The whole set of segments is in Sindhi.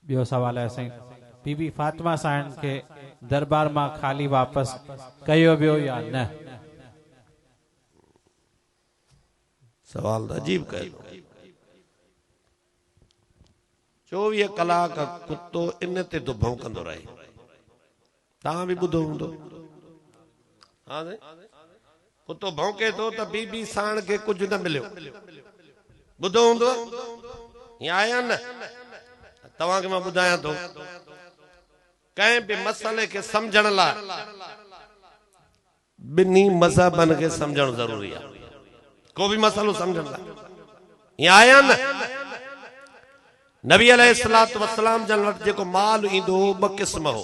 ٻيو سوال آهي سائين بي بي فاطمه سائڻ کي دربار مان خالي واپس ڪيو ويو يا نه؟ سوال ته عجيب ڪيو اٿو. چوويهه ڪلاڪ ڪتو ان تي ته ڀونڪندو رهي. توهان به ٻڌو هوندو. ها سائين ڪتو ڀونڪي ٿو ته بي بي ساڻ کي ڪجهه نه مليو. ٻڌو هوندو ائين آهي يا نه؟ توهان کي مان ٻڌايان ٿو ڪنهن به مسئلي کي سمجهڻ لاء ٻنهي مذهبن کي سمجهڻ ضروري آهي ڪو به مسئلو سمجهڻ لاء ائين آهي يا نه؟ نبي عليه الصلوة والسلام جن وٽ جيڪو مال ايندو هو ٻه قسم هو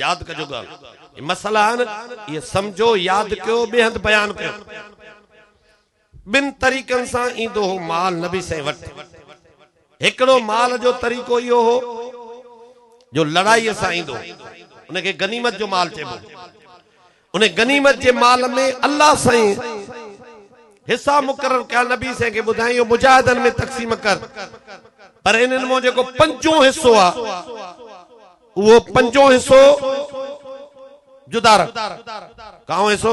ياد ڪجو ڳالهه اهي مسئلا آهن اهي سمجهو ياد ڪيو ٻئي هنڌ بيان ڪيو ٻن طريقن سان ايندو هو مال نبي سائين وٽ. هڪڙو مال جو طريقو اهو هو جو لڙائيء سان ايندو هو. ان کي غنيمت جو مال چئبو هو. ان غنيمت جي مال ۾ الله سائين حصا مقرر ڪيا نبي سائين کي ٻڌائين اهو مجاهدن ۾ تقسيم ڪر پر انهن مان جيڪو پنجون حصو آ اهو پنجون حصو جدا رک. ڪائون حصو؟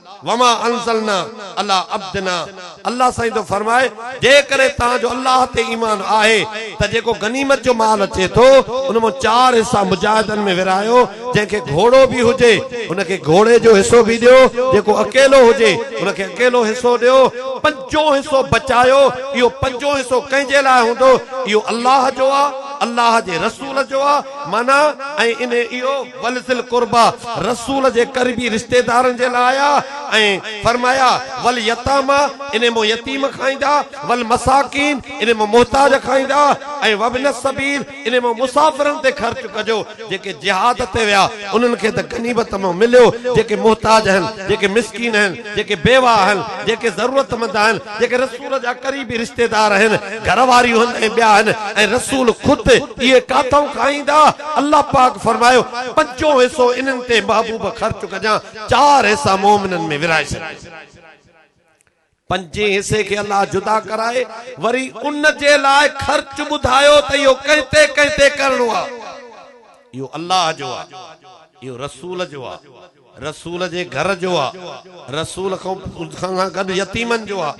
وما انزلنا علي عبدنا الله سائين ٿو فرمائي جيڪڏهن توهان جو الله تي ايمان آهي ته جيڪو غنيمت جو مال اچي ٿو ان مان چار حصا مجاهدن ۾ ورهايو جنهن کي گهوڙو به هجي ان کي گهوڙي جو حصو به ڏيو جيڪو اڪيلو هجي ان کي اڪيلو حصو ڏيو پنجون حصو بچايو اهو پنجون حصو ڪنهن جي لاء هوندو اهو الله جو آهي الله جي رسول جو آهي معنيٰ ۽ انهي اهو ول ذي القربيٰ، رسول جي قربي رشتيدارن جي لاء آيا ۽ فرمايا، واليتاميٰ، انهي مان يتيم کائيندا، والمساڪين، انهي مان محتاج کائيندا ۽ وابن السبيل، انهي مان مسافرن تي خرچ ڪجو، جيڪي جهاد تي ويا انهن کي ته غنيمت مان مليو، جيڪي محتاج آهن، جيڪي مسڪين آهن. جيڪي بيواهه آهن، جيڪي ضرورتمند آهن، جيڪي رسول جا قريبي رشتيدار آهن، گهر واريون هن ۽ ٻيا هن ۽ رسول خود اهي ڪاٿئون کائيندا، الله پاڪ فرمايو، پنجون حصو انهن تي محبوب خرچ ڪجان، چار حصا مؤمنن ۾ ورهائي ڇڏجان. پنجين حصي کي الله جدا ڪرائي وري ان جي لاء خرچ ٻڌايو ته اهو ڪنهن تي ڪنهن تي ڪرڻو آهي، اهو الله جو آهي، اهو رسول جو آهي، رسول جي گهر جو آ، رسول کان سان گڏ يتيمن جو آ،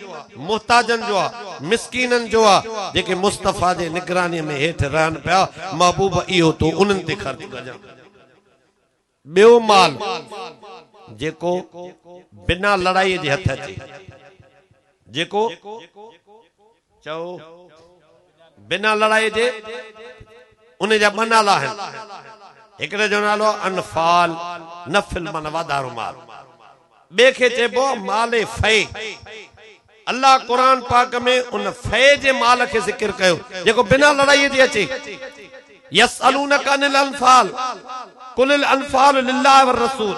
محتاجن جو آ، مسڪينن جو آ، جيڪي مصطفيٰ جي نگرانيء ۾ هيٺ رهن پيا، محبوب اهو تون انهن تي خرچ ڪجان. ٻيو مال جيڪو بنا لڙائيء جي هٿ اچي، جيڪو. چئو، بنا لڙائيء جي ان جا ٻه نالا آهن. هڪڙي جو نالو آهي انفال، نفل معنيٰ واڌارو مال. ٻئي کي چئبو آهي مال فيء. الله قرآن پاڪ ۾ ان فيء جي مال کي ذڪر ڪيو، جيڪو بنا لڙائيء جي اچي. يسألونک عن الانفال، قل الانفال لله والرسول.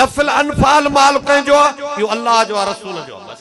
نفل، انفال، مال ڪنهن جو آهي؟ اهو الله جو آهي، رسول جو آهي. بس!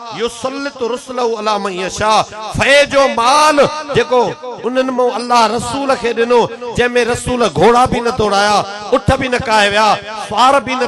يسلط رسله علي من يشاء فيء جو مال جيڪو انهن مون الله رسول کي ڏنو، جنهن ۾ رسول گهوڙا به نه ڊوڙايا، اٺ به نه ڪاهي ويا، سوار به نه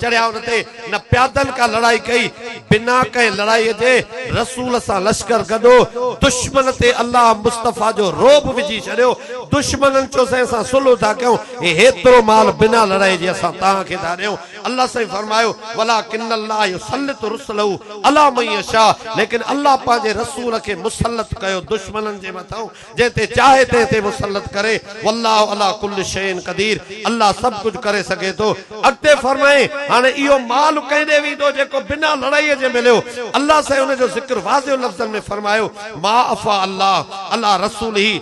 چڙهيا ان تي، نه پيادن ڪا لڙائي ڪئي، بنا ڪنهن لڙائي جي رسول سان لشڪر گڏهو، دشمن تي الله مصطفيٰ جو رعب وجهي ڇڏيو، دشمنن چيو سائين اسان صلح ٿا ڪيون، هي هيترو مال بنا لڙائي جي اسان توهان کي ٿا ڏيون. الله سائين فرمايو، ولٰڪن الله يسلط رسله علي من يشٰء ليڪن الله پنهنجي رسول کي مسلط ڪيو دشمنن جي مٿان جنهن تي چاهي تنهن تي مسلط ڪري، والله علٰي ڪل شيء قدير الله سڀ ڪجهه ڪري سگهي ٿو. اڳتي فرمائين، هاڻي اهو مال ڪنهن ڏي ويندو جيڪو بنا لڙائي جي مليو؟ الله سائين ان جو ذڪر واضح لفظن ۾ فرمايو، ما افٰي الله علٰي رسوله،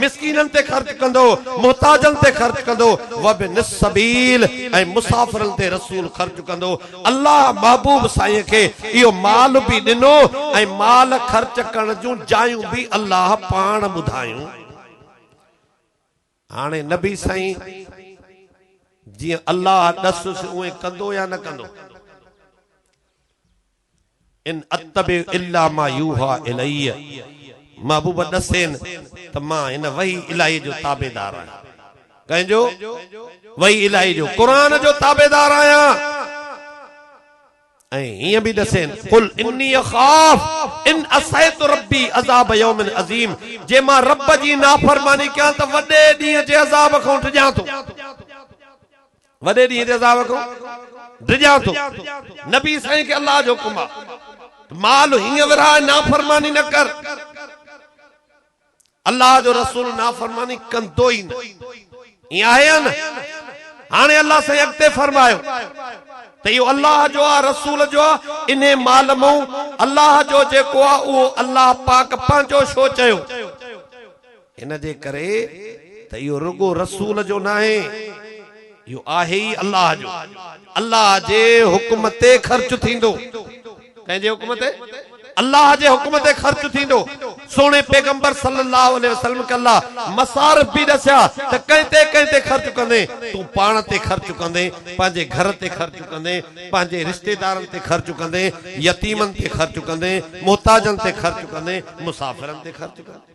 مسڪينن تي خرچ ڪندو، محتاجن تي خرچ ڪندو، وابن السبيل ۽ مسافرن تي رسول خرچ ڪندو، الله محبوب سائين کي اهو مال به ڏنو ۽ مال خرچ ڪرڻ جون جايون به الله پاڻ ٻڌايون. هاڻي نبي سائين جيئن الله ڏسس اوئين ڪندو يا نه ڪندو؟ ان اتبع الا ما يوحي الي، محبوب ڏسين ته مان هن وحي الاهي جو تابعدار آهيان. ڪنهن جو؟ وحي الاهي جو، قرآن جو تابعدار آهيان. ۽ هيئن به ڏسين، قل اني اخاف ان عصيت ربي عذاب يوم عظيم، جي مان رب جي نافرماني ڪيان ته وڏي ڏينهن جي عذاب کان ڊڄان ٿو. وڏي ڏينهن تي عذاب کان ڊڄان ٿو. نبي سائين کي الله جو حڪم آ ته مال هيئن ورهاء نافرماني نه ڪر. الله جو رسول نافرماني ڪندو ئي نه. ائين آهي يا نه؟ هاڻي الله سائين اڳتي فرمايو ته اهو الله جو آ، رسول جو آ، انهي مال مئون الله جو جيڪو آ اهو الله پاڪ پنهنجو ڇو چيو؟ ان جي ڪري ته اهو رڳو رسول جو ناهي، اهو آهي ئي الله جو. الله جي حڪم تي خرچ ٿيندو. ڪنهن جي حڪم تي؟ الله جي حڪم تي خرچ ٿيندو. سهڻي پيغمبر صلّي اللّٰه عليه وسلّم کي الله مصارف به ڏسيا ته ڪنهن تي ڪنهن تي خرچ ڪندين؟ تون پاڻ تي خرچ ڪندين، پنهنجي گهر تي خرچ ڪندين، پنهنجي رشتيدارن تي خرچ ڪندين، يتيمن تي خرچ ڪندين، محتاجن تي خرچ ڪندين، مسافرن تي خرچ ڪندين.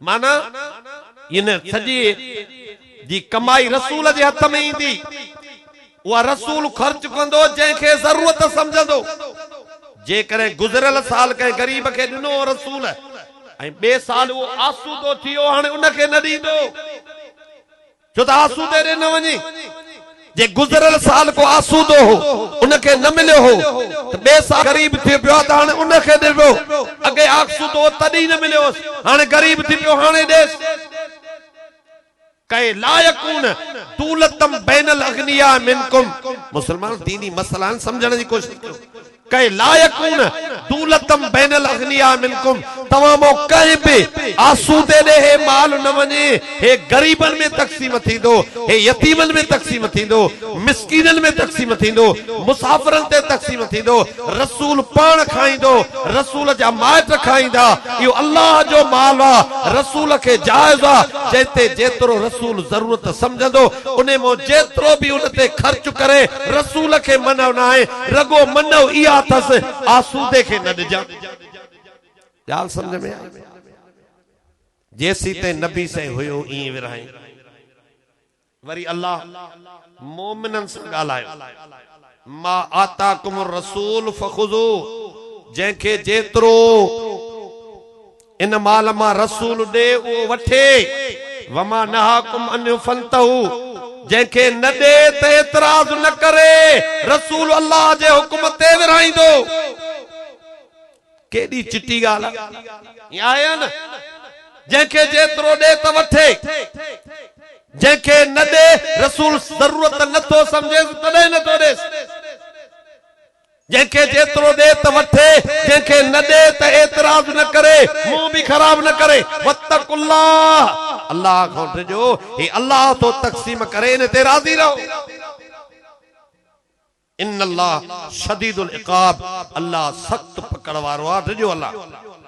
معنيٰ، ان سڄيء جي ڪمائي رسول جي هٿ ۾ ايندي، اها رسول خرچ ڪندو، جنهن کي ضرورت سمجهندو. جيڪڏهن گذريل سال ڪنهن غريب کي ڏنو هو رسول ۽ ٻئي سال اهو آسودو ٿي ويو، هاڻي ان کي نه ڏيندو. ڇو ته آسودي ڏي نه وڃي. جي گذريل سال ڪو آسودو هو، ان کي نه مليو هو ته ٻئي سال غريب ٿي پيو آهي ته هاڻي ان کي ڏبو. اڳي آسودو هو تڏهن نه مليو هوس، هاڻي غريب ٿي پيو هاڻي ڏيس. ڪئي لا يڪون دولتم بين الاغنياء منڪم. مسلمانو ديني مسئلا آهن سمجهڻ جي ڪوشش ڪيو. ڪي لا يڪون دولتم بين الاغنياء منڪم توهان مان ڪنهن به آسودي ڏي هي مال نه وڃي هي غريبن ۾ تقسيم ٿيندو هي يتيمن ۾ تقسيم ٿيندو مسڪينن ۾ تقسيم ٿيندو مسافرن تي تقسيم ٿيندو رسول پاڻ کائيندو رسول جا مائٽ کائيندا اهو الله جو مال آ رسول کي جائز آ جنهن تي جيترو رسول ضرورت سمجهندو انهي مان جيترو به ان تي خرچ ڪري رسول کي منع ناهي رڳو منو اها اٿس آسودي کي نه ڏجان. ڳالهه سمجهه ۾ آئي؟ جيسيتائين نبي سائين هيو ائين ورهائين. وري الله مؤمنن سان ڳالهايو ما آتاڪم الرسول فخذوه جنهن کي جيترو. ان مال مان رسول ڏي اهو وٺي، وما نهاڪم عنه فانتهو، جنهن کي نه ڏي ته اعتراض نه ڪري، رسول الله جي حڪم تي ورهائيندو. ڪيڏي چٽي ڳالهه آهي. ائين آهي يا نه؟ جنهن کي جيترو ڏي ته وٺي، جنهن کي نه ڏي، رسول ضرورت نه ٿو سمجهيس تڏهن نه ٿو ڏيس. جنهن کي جيترو ڏي ته وٺي، جنهن کي نه ڏي ته اعتراض نه ڪري، منهن به خراب نه ڪري. واتقوا الله، الله کان ڊڄو، هي الله ٿو تقسيم ڪري، ان تي راضي رهو. ان الله شديد العقاب، الله سخت پڪڙ وارو آهي، ڊڄو الله کان.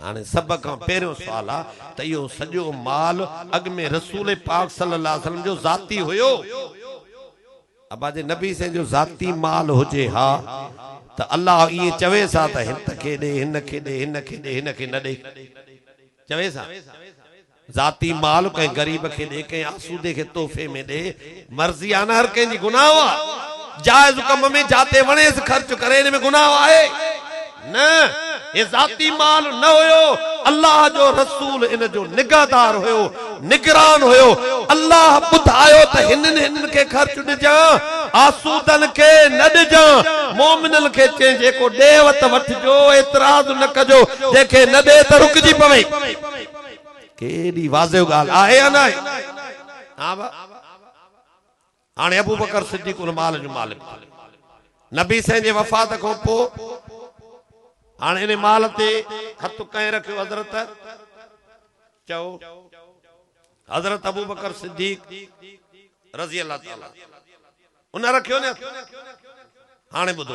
هاڻي سڀ کان پهريون سوال آ ته اهو سڄو مال اڳ ۾ رسول پاڪ صلي الله عليه وسلم جو ذاتي هيو؟ ابا جي نبي سائين جو ذاتي مال هجي ها ته الله ائين چويس ها ته هت کي ڏي هن کي ڏي هن کي ڏي هن کي نه ڏي چويس ها؟ ذاتي مال ڪنهن غريب کي ڏي، ڪنهن آسودي کي تحفي ۾ ڏي، مرضي آهي نه هر ڪنهن جي گناهه آهي، جائز ڪم ۾ جاتي وڻيس خرچ ڪري ان ۾ گناهه آهي؟ نه هي ذاتي مال نه هيو، الله جو رسول ان جو نگهدار هيو، نگران هيو، الله ٻڌايو ته هنن هنن کي خرچ ڏجان، آسودن کي نه ڏجان، مؤمنن کي چئين جيڪو ڏيئي وت وٺجو، اعتراض نه ڪجو، جنهن کي نه ڏئي ته رڪجي پوي. ڪي ايڏي واضح ڳالهه آهي يا ناهي؟ ها ڀاء! هاڻي ابوبڪر صديق ان مال جو مالڪ ٿيو. نبي سائين جي وفات کان پوء هاڻي ان مال تي هٿ ڪنهن رکيو حضرت؟ چئو! حضرت ابوبڪر صديق رضي الله تعالٰي عنه ان رکيو نه هٿ. هاڻي ٻڌو!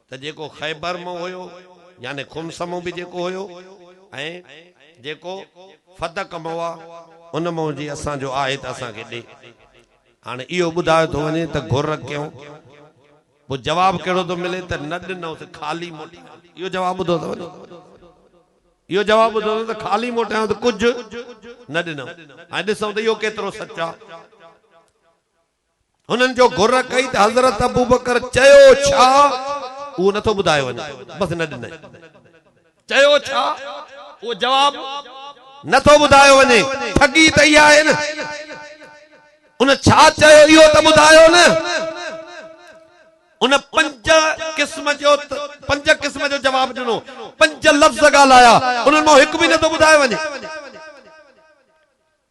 ته جيڪو خيبر مون هيو يعني خمس مون به جيڪو هيو ۽ جيڪو فتق مون آ ان مون جي اسان جو آهي ته اسان کي ڏي هاڻي اهو ٻڌايو ٿو وڃي ته گهر ڪيون پوء جواب ڪهڙو ٿو ملي ته نه ڏنئون ته خالي موٽيائون اهو جواب ٻڌو اٿو ني اهو جواب ٻڌو اٿو ته خالي موٽيائون ته ڪجهه نه ڏنئون هاڻي ڏسئون ته اهو ڪيترو سچ آ. هنن جو گهر ڪئي ته حضرت ابوبڪر چيو ڇا؟ اهو نٿو ٻڌايو وڃي. بس نه ڏنائين. چيو ڇا؟ اهو جواب نٿو ٻڌايو وڃي. ٺڳي ته اها آهي نه. ان ڇا چيو اهو ته ٻڌايو نه. ان پنج قسم جو پنج قسم جو جواب ڏنو. پنج لفظ ڳالهايا. انهن مان هڪ به نٿو ٻڌايو وڃي.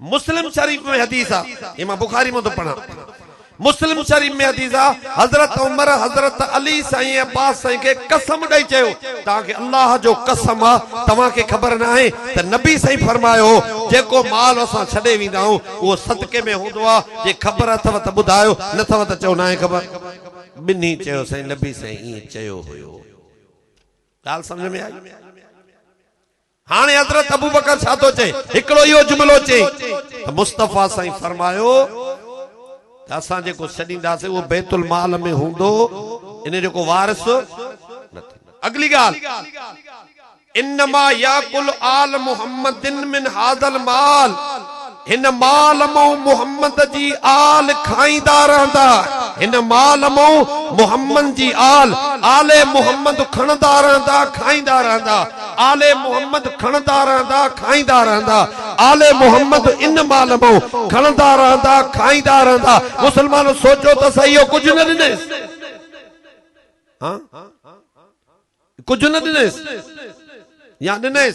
مسلم شريف ۾ حديث آ، هي مان بخاري مان ٿو پڙهان، مسلم شريف ۾ حديث آ، حضرت عمر حضرت علي سائين عباس سائين کي قسم ڏئي چيو، توهان کي الله جو قسم آ، توهان کي خبر ناهي ته نبي سائين فرمايو هو، جيڪو مال اسان ڇڏي ويندا آهيون، اهو صدقي ۾ هوندو آ، جي خبر اٿئو ته ٻڌايو، نه اٿئو ته چئو ناهي خبر. ٻنهي چيو سائين نبي سائين ائين چيو هيو. ڳالهه سمجهه ۾ آئي؟ هاڻي حضرت ابوبڪر ڇا ٿو چئي؟ هڪڙو اهو جملو چئي ته مصطفيٰ سائين فرمايو ته اسان جيڪو ڇڏينداسين اهو بيت المال ۾ هوندو ان جو ڪو وارث نه ٿيندو. اڳلي ڳالهه انما ياڪل آل محمد من هذا المال. هن مال مئو محمد جي آل کائيندا رهندا. هن مال مئو محمد جي آل، آل محمد کڻندا رهندا، کائيندا رهندا. آل محمد کڻندا رهندا، کائيندا رهندا. آل محمد ان مال مئو کڻندا رهندا، کائيندا رهندا. مسلمانو سوچو ته سهي اهو ڪجهه نه ڏنيس؟ ها؟ ڪجهه نه ڏنيس يا ڏنيس؟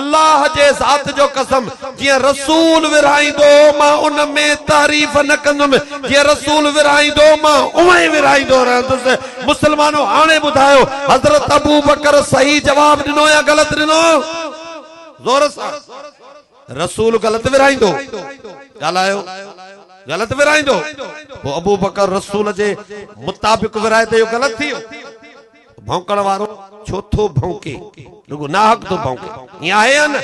الله جي ذات جو قسم! جيئن رسول ورهائيندو هو، مان ان ۾ تحريف نه ڪندم، جيئن رسول ورهائيندو هو، مان اونئن ئي ورهائيندو رهندس. مسلمانو! هاڻي ٻڌايو، حضرت ابوبڪر صحيح جواب ڏنو يا غلط ڏنو؟ زور سان! رسول غلط ورهائيندو هو. ڳالهايو! غلط ورهائيندو هو. پوء ابوبڪر رسول جي مطابق ورهائي ته اهو غلط ٿي ويو. ڀونڪڻ وارو ڇو ٿو ڀونڪي؟ رڳو ناحق ٿو ڀونڪي. ائين آهي يا نه؟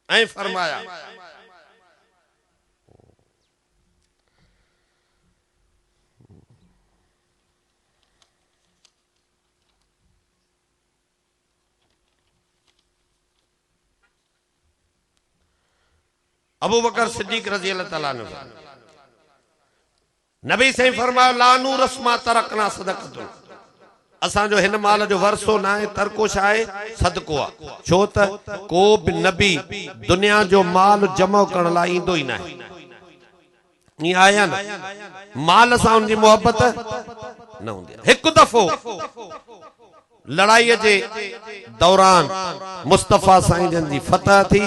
ائين فرمايا. ابوبڪر صديق رضي الله تعالٰي عنه فرمايو. نبي سائين فرمايو، لا نورث ما ترڪنا صدقة، اسان جو هن مال جو ورثو ناهي، ترڪو ڇا آهي؟ صدقو آ، ڇو ته ڪو به نبي دنيا جو مال جمع ڪرڻ لاء ايندو ئي ناهي. ائين آهي يا نه؟ مال سان ان جي محبت نه هوندي آ. هڪ دفعو. لڙائيء جي دوران مصطفيٰ سائين جن جي فتح ٿي،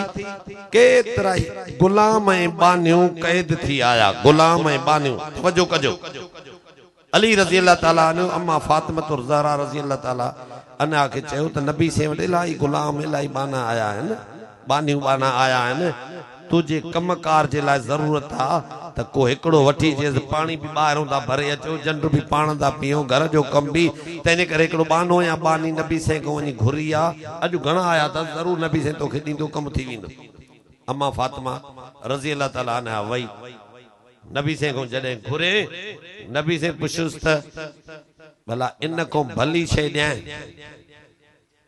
ڪيترائي غلام ۽ ٻانهيون قيد ٿي آيا. غلام ۽ ٻانهيون، توجه ڪجو، علي رضي الله تعاليٰ عنه اما فاطمة الزهراء رضي الله تعاليٰ عنها کي چيو ته نبي سين وٽ الائي غلام، الائي ٻانها آيا آهن. ٻانهيون ٻانها آيا آهن، تنهنجي ڪم ڪار جي لاء ضرورت آ ته ڪو هڪڙو وٺي اچيس، پاڻي به ٻاهرون ٿا ڀري اچون، جنڊ به پاڻ ٿا پيئون، گهر جو ڪم به، تنهنجي ڪري هڪڙو ٻانهو يا ٻانهي نبي سائين کان وڃي گهري آ، اڄ گهڻا آيا اٿس، ضرور نبي سائين توکي ڏيندو، ڪم ٿي ويندو. امان فاطمه رضي الله تعالٰي عنها وئي، نبي سائين کان جڏهن گهري، نبي سائين پڇيس ته، ڀلا ان کان ڀلي شيء ڏيانء؟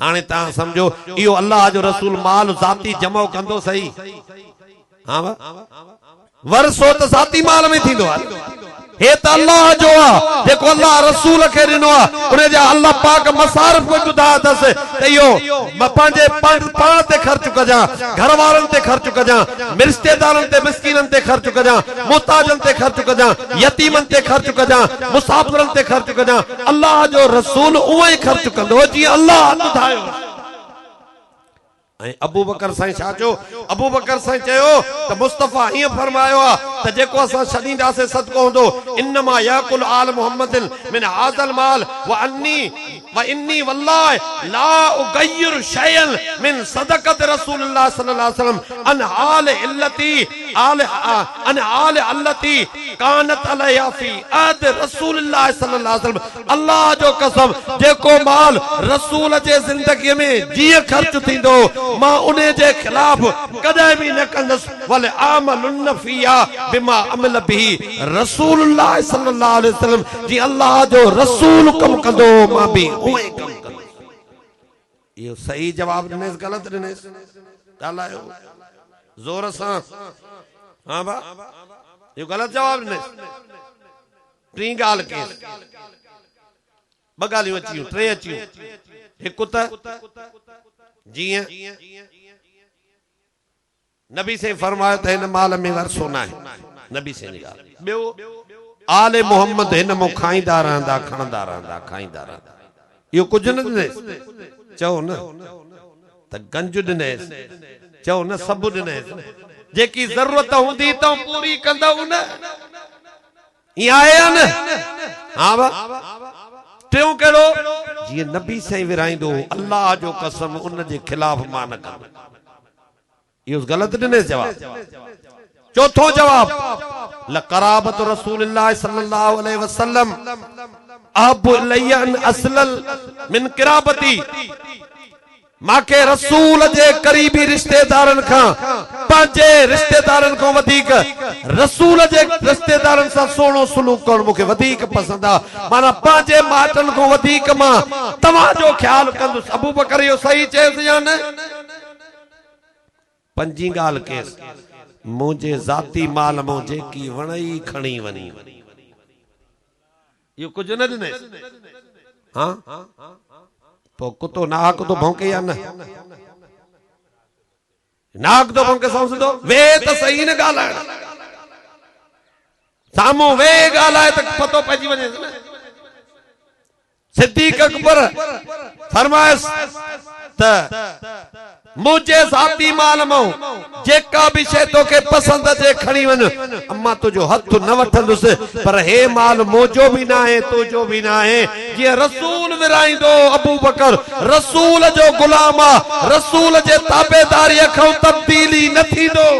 هاڻي توهان سمجهو اهو الله جو رسول مال ذاتي جمع ڪندو صحيح ها وا ورثو ته ذاتي مال ۾ ٿيندو آهي هي ته الله جو آ جيڪو الله رسول کي ڏنو آ ان جا الله پاڪ مصارف به ٻڌايا اٿس ته اهو پنهنجي پاڻ تي خرچ ڪجان گهر وارن تي خرچ ڪجان رشتيدارن تي مسڪينن تي خرچ ڪجان محتاجن تي خرچ ڪجان يتيمن تي خرچ ڪجان مسافرن تي خرچ ڪجان الله جو رسول اونئن ئي خرچ ڪندو هو جيئن الله هٿ ڌايو هو. ۽ ابوبڪر سائين ڇا چيو؟ ابوبڪر سائين چيو ته مصطفيٰ ائين فرمايو آهي ته جيڪو اسان ڇڏينداسين صدقو هوندو انما يأڪل آل محمد من هذا المال واني واني والله لا اغير شيئا من صدقة رسول الله صلّي الله عليه وسلّم عن حال التي ان آل التي ڪانت عليها في عهد رسول الله صلي الله عليه وسلم الله جو قسم جيڪو مال رسول جي زندگيء ۾ جيئن خرچ ٿيندو هو مان انهي جي خلاف ڪڏهن به نه ڪندس ولاعملن فيها بما عمل به رسول الله صلي الله عليه وسلم جيئن الله جو رسول ڪم ڪندو هو مان به اهو ئي ڪم ڪندس. اهو صحيح جواب ڏنيس غلط ڏنيس ڳالهايو زور سان ها ڀا اهو غلط جواب ڏنيس ٽين ڳالهه ڪيس ٻه ڳالهيون اچيون ٽي اچيون هڪ ته جيئن نبي سائين فرمايو ته هن مال ۾ ورثو ناهي نبي سائين جي ڳالهه ٻيو آل محمد هن مون کائيندا رهندا کڻندا رهندا کائيندا رهندا اهو ڪجهه نه ڏنيس چئو نه ته گنج ڏنيس چئو نه سڀ ڏنيس جيڪي ضرورت هوندي تون پوري ڪندؤ نه ائين آهي يا نه ها وا ٽيون ڪهڙو جيئن نبي سائين ورهائيندو هو الله جو قسم ان جي خلاف مان نه ڪندس. اهو غلط ڏنيس جواب. چوٿون جواب، لقرابة رسول الله صلي الله عليه وسلم احب الي ان اصلل من قرابتي مان کي رسول جي قريبي رشتيدارن کان پنهنجي رشتيدارن کان وڌيڪ رسول جي رشتيدارن سان سهڻو سلوڪ ڪرڻ مون کي وڌيڪ پسند آ معنيٰ پنهنجي مائٽن کان وڌيڪ مان توهان جو خيال ڪندس ابوبڪر اهو صحيح چيس يا نه؟ پنجين ڳالهه ڪيس، منهنجي ذاتي مال مان جيڪي وڻئي کڻي وڃ. اهو ڪجهه نه ڏنئس. ها پوء ڪتو ناحق ٿو ڀونڪي يا نه؟ ناحق ٿو ڀونڪي سائون سڌو ويهه ته سهي نه ڳالهائڻ. سامهون ويهي ڳالهاء ته پتو پئجي وڃيس نه. صديق اڪبر فرمايس ته منهنجي ذاتي مال مان جيڪا به شيء توکي پسند اچي کڻي وڃ، امان تنهنجو هٿ نه وٺندس، پر هي مال منهنجو به ناهي تنهنجو به ناهي، جيئن رسول ورهائيندو هو، ابوبڪر رسول جو غلام آ، رسول جي تابعداريء کان تبديلي نه ٿيندو.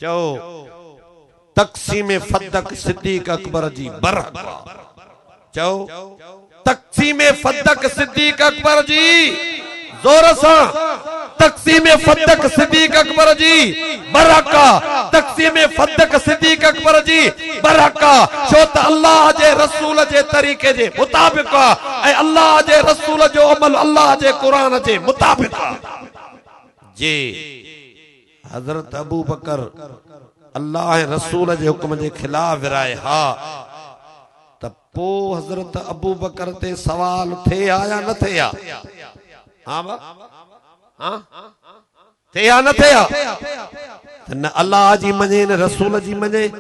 چئو، تقسيم فدق صديق اڪبر جي برحق آ. چئو، تقسيم فدق صديق اڪبر جي. زور سان، تقسيم فدق صديق اڪبر جي برحق آ، تقسيم فدق صديق اڪبر جي برحق آ، ڇو ته الله جي رسول جي طريقي جي مطابق آ ۽ الله جي رسول جو عمل الله جي قرآن جي مطابق آ. جي. حضرت ابوبڪر الله رسول جي حڪم جي خلاف ورائي ها ته پو حضرت ابوبڪر تي سوال ٿئي ها يا نه ٿئي ها؟ ها با ها ٿئي ها نه ٿئي ها؟ ته نه الله جي مڃين نه رسول جي مڃين.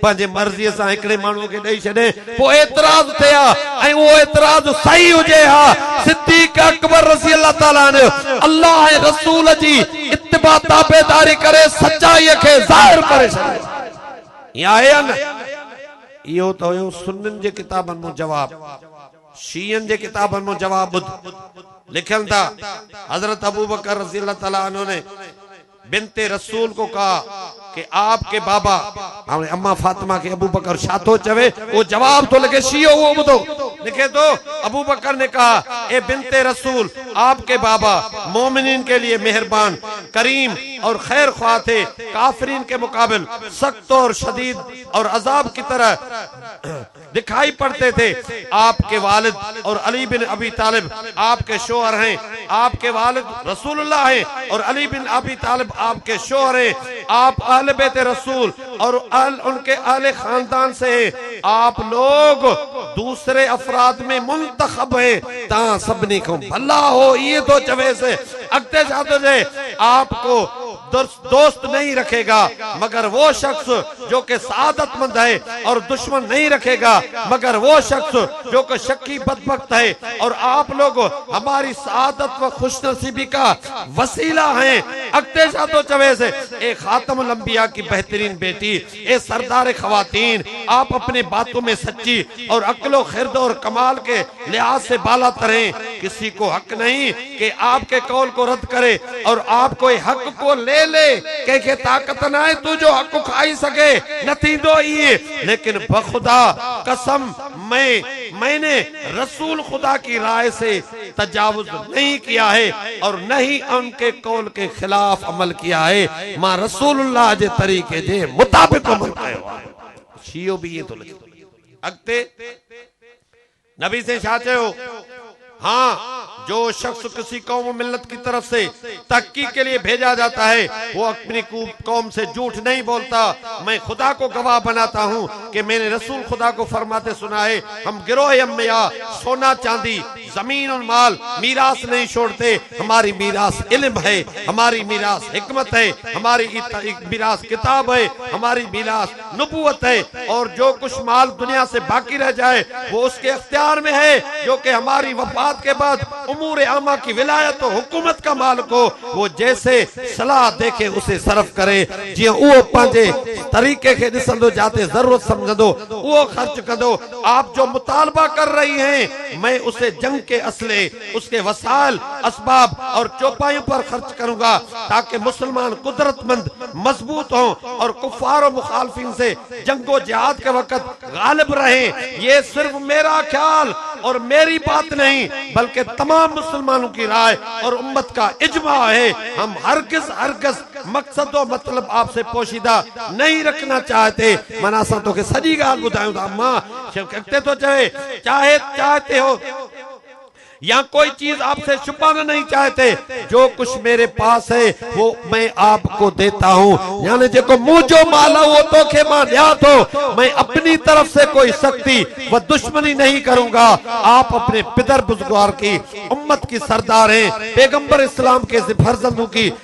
پنهنجي مرضيء سان هڪڙي ماڻهوء کي ڏئي ڇڏي، پوء اعتراض ٿئي ها ۽ اهو اعتراض صحيح هجي ها. صديق اڪبر رضي الله تعالٰي عنه الله ۽ رسول جي اتباع تابعداري ڪري سچائيء کي ظاهر ڪري ڇڏيو. ائين آهي يا نه؟ اهو ته هيو سنين جي ڪتابن مان جواب. شيعن جي ڪتابن مان جواب ٻڌ. لکن ٿا، حضرت ابوبڪر رضي الله تعالٰي عنه ني، بنت رسول ڪو ڪھا ڪي آپ ڪي بابا. ھاڻي اما فاطمه کي ابوبڪر ڇا ٿو چوي اھو جواب ٿو لکي شيعو اھو ٻڌو لکي ٿو ابوبڪر ني ڪھا اي بنت رسول آپ ڪي بابا مؤمنين ڪي لئي مھربان ڪريم اور خير خواھ ٿي ڪافرين ڪي مقابل سخت اور شديد اور عذاب ڪي طرح دکائي پڙتي تي آپ ڪي والد اور علي بن ابي طالب آپ ڪي شوهر هين آپ ڪي والد رسول الله هين اور علي بن ابي طالب آپ ڪي شوهر هين آپ اهل بيت رسول اور اهل ان ڪي اهل خاندان سي هين آپ لوگ دوسري افراد ۾ منتخب هين تان سڀني کان ڀلا هو ايئن ٿو چويس اڳتي ڇا ٿو چئي آپ ڪو دوست نهين رکي گا مگر وو شخص جو ڪي سعادت مند هي اور دشمن نهين رکي گا مگر وو شخص جو ڪي شقي بدبخت هي اور آپ لوگ هماري سعادت و خوش نصيبي ڪا وسيلا هين اڳتي شاهه ٿو چويس اي خاتم الانبياء ڪي بهترين بيٽي اي سردار خواتين! آپ اپني باتون مين سچي اور عقل و خرد اور کمال ڪي لحاظ سي بالا تر هين، ڪسي ڪو حق نهين ڪي آپ ڪي قول ڪو رد ڪري اور آپ ڪوئي حق ڪو لي لي، ڪنهن کي طاقت ناهي تو جو حق کائي سگهي، نه ٿيندو ائين، ليڪن بخدا قسم مين مين رسول خدا ڪي رائي سي تجاوز نھين ڪيا ھي اور نھ ھي ان ڪي قول ڪي خلاف عمل ڪيا ھي مان رسول الله جي طريقي جي مطابق عمل ڪيو آھي شيعو به ائين ٿو لکي اڳتي نبي سين ڇا چيو ھان جو شخص ڪسي قوم و ملت ڪي طرف سي تحقيق ڪي لئي ڀيجا جاتا ھي ھو اپني قوم سي جھوٺ نھين بولتا مين خدا ڪو گواھ بناتا ھون ڪي مين رسول خدا ڪو فرماتي سنا هي، هم گروهي هم ميا، سونا چاندي، زمين اور مال، ميراث نهين شوڙتي، هماري ميراث علم هي، هماري ميراث حڪمت هي، هماري ميراث ڪتاب هي، هماري ميراث نبوت هي، اور جو ڪچھ مال دنيا سي باقي رهه جائي وو اس ڪي اختيار مين هي، جو ڪي هماري وفات ڪي بعد امور عامه ڪي ولايت و حڪومت ڪا مالڪ هو، وو جيسي صلاح ديکي اسي صرف ڪري. جيئن اهو پنهنجي طريقي کي ڏسندو جاتي ضرورت سمجهندو اهو خرچ ڪندو آپ جو مطالبه ڪر رهي هين مين اسي جنگ ڪي اسلحي اسڪي وسائل اسباب اور چوپايون پر خرچ ڪرون گا تاڪه مسلمان قدرت مند مضبوط هون اور کفار و مخالفين سي جنگ و جهاد ڪي وقت غالب رهين يي صرف ميرا خيال اور ميري بات نهين بلڪه تمام مسلمانون ڪي راء اور امت ڪا اجماع هي هم هرگز هرگز مقصد و مطلب آپ سے پوشيده نهين رکنا چاهتي معنيٰ اسان توکي سڄي ڳالهه ٻڌايون ٿا امان شيخ اڳتي ٿو چوي چاهي چاهتي هو يا ڪوئي چيز آپ سي ڇپانا نهين چاهتي جو ڪجهه ميري پاس هي وو مين آپ ڪو ديتا هون يعني جيڪو منهنجو مال آ اهو توکي مان ڏيا ٿو مين اپني طرف سي ڪوئي سختي و دشمني نهين ڪرون گا آپ اپني پدر بزگوار ڪي امت ڪي سردار هين پيغمبر اسلام ڪي فرزندون ڪي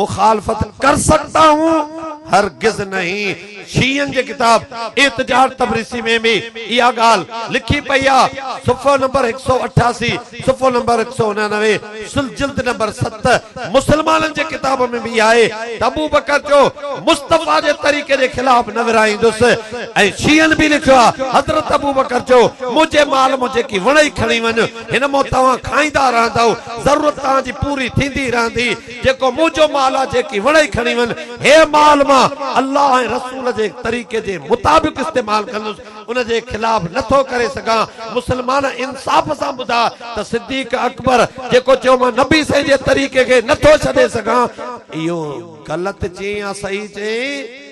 مخالفت ڪر سگتا هون؟ هرگز نهين. شيعن جي ڪتاب اعتجاج تبريسي ۾ به اها ڳالهه لکي پئي آ، صفحو نمبر هڪ سؤ اٺاسي، صفحو نمبر هڪ سؤ انانوي، سل جلد نمبر ست، مسلمانن جي ڪتاب ۾ به آهي ته ابوبڪر چيو، مصطفيٰ جي طريقي جي خلاف نه ورهائيندس ۽ شيعن به لکيو آ، حضرت ابوبڪر چيو، منهنجي مال مان جيڪي وڻئي کڻي وڃ. هن مون توهان کائيندا رهندؤ، ضرورت توهان جي پوري ٿيندي رهندي، جيڪو منهنجو مال آهي، جيڪي وڻئي کڻي وڃ، هي مال مان الله ۽ رسول جي طريقي جي مطابق استعمال ڪندس، ان جي خلاف نه ٿو ڪري سگهان، مسلمان انصاف سان ٻڌاء ته صديق اڪبر جيڪو چيو مان نبي سائين جي طريقي کي نه ٿو ڇڏي سگهان، اهو غلط چيئين يا صحيح چيئين؟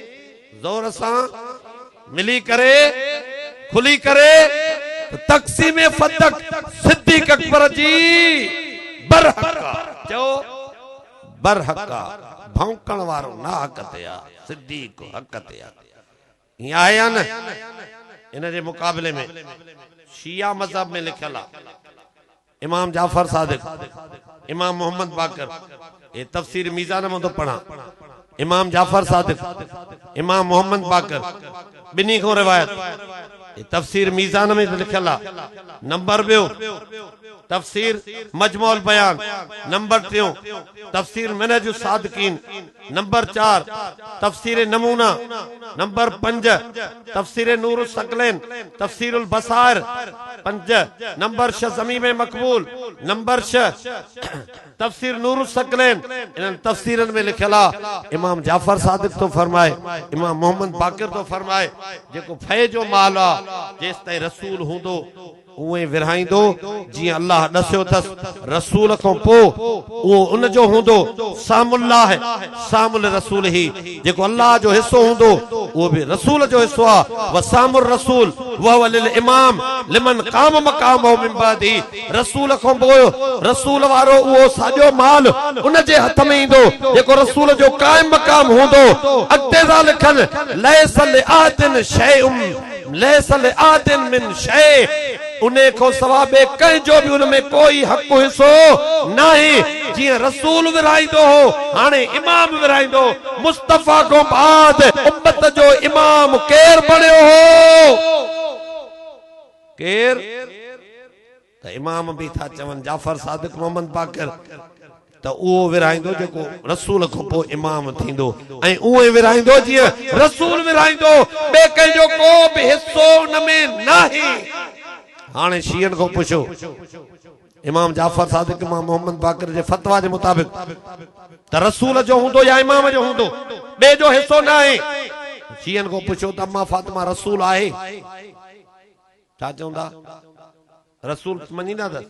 زور سان ملي ڪري کلي ڪري ته تقسيم فتق صديق اڪبر جي برحق آ چئو برحق آ ڀونڪڻ وارو ناحق تي آ صديق حق تي آ ائين آهي يا نه ان جي مقابلي ۾ شيعه مذهب ۾ لکيل آ امام جعفر صادق، امام محمد باقر، اي تفسير ميزان مان ٿو پڙهان، امام جعفر صادق، امام محمد باقر، ٻنهي کان روايت، اي تفسير ميزان ۾ به لکيل آ، نمبر ٻيو، تفسير مجموع البيان، نمبر ٽيون، تفسير منهج الصادقين، نمبر چار، تفسير نمونه، نمبر پنج، تفسير نور الثقلين، تفسير البصائر، پنج، نمبر شھ، ضميم مقبول، نمبر شھ، تفسير نور الثقلين، انهن تفسيرن ۾ لکيل آ، امام جعفر صادق ٿو فرمائي، امام محمد باقر ٿو فرمائي، جيڪو ڦئي جو مال آ، جيستائين رسول هوندو. اونء ئي ورهائيندو جيئن الله ڏسيو ٿس رسول کان پوء اهو ان جو هوندو، سهم الله سهم لرسوله هي جيڪو الله جو حصو هوندو اهو به رسول جو حصو آهي وسهم الرسول وهو للامام لمن قام مقامه من بعده رسول کان پوء رسول وارو اهو ساڄو مال ان جي هٿ ۾ ايندو جيڪو رسول جو قائم مقام هوندو اڳتي ذا لکن ليس لاحد شيء ليس لآحد من شيء، انهي کان سوا ٻئي ڪنهن جو به ان ۾ ڪوئي حق حصو ناهي، جيئن رسول ورهائيندو هو، هاڻي امام ورهائيندو، مصطفيٰ کان بعد امت جو امام ڪير بڻيو هو؟ ڪير؟ ته امام به ٿا چون جعفر صادق محمد باقر ته اهو ورهائيندو جيڪو رسول کان پوء امام ٿيندو ۽ اونئين ورهائيندو جيئن رسول ورهائيندو ٻئي ڪنهن جو ڪو به حصو ان ۾ ناهي هاڻي شيعن کان پڇو امام جعفر صادق امام محمد باقر جي فتويٰ جي مطابق ته رسول جو هوندو يا امام جو هوندو ٻئي جو حصو ناهي شيعن کان پڇو ته اما فاطمه رسول آهي؟ ڇا چوندا؟ رسول مڃيندا ٿس؟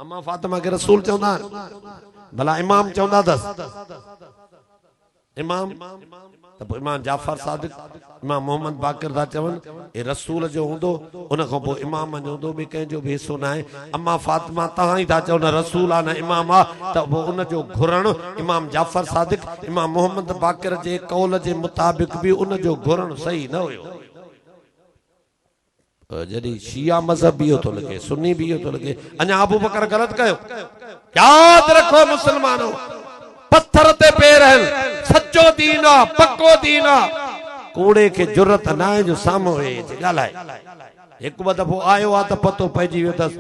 امان فاطمه کي رسول چوندا آهن؟ ڀلا امام چوندا ٿس؟ امام؟ ته پوء امام جعفر صادق، امام محمد باقر ٿا چون، هي رسول جو هوندو، ان کان پوء امام جو هوندو، ٻي ڪنهن جو به حصو ناهي. امان فاطمه توهان ئي ٿا چئو نه رسول آ نه امام آ، ته پوء ان جو گهرڻ امام جعفر صادق، امام محمد باقر جي قول جي مطابق به ان جو گهرڻ صحيح نه هيو. جڏهن شيعا مذهب به اهو ٿو لکي سني به اهو ٿو لکي اڃا ابوبڪر غلط ڪيو ياد رکو مسلمانو پٿر تي پير آهن سچو دين آ پڪو دين آ ڪوڙي کي جرت ناهي جو سامهون ويهي ڳالهائي هڪ ٻه دفعو آيو آ ته پتو پئجي ويو تس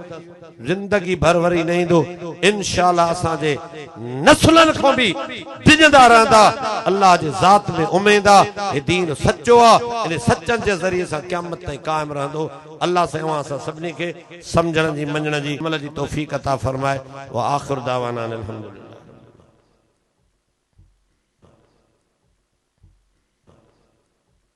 زندگي ڀر وري نه ايندو انشاء الله اسان جي نسلن کان به ڊڄندا رهندا الله جي ذات ۾ اميد آ هي دين سچو آ انهن سچن جي ذريعي سان قيامت تائين قائم رهندو الله سائين اوهان اسان سڀني کي سمجهڻ جي مڃڻ جي عمل جي توفيق عطا فرمائي واخر دعوانا ان الحمد لله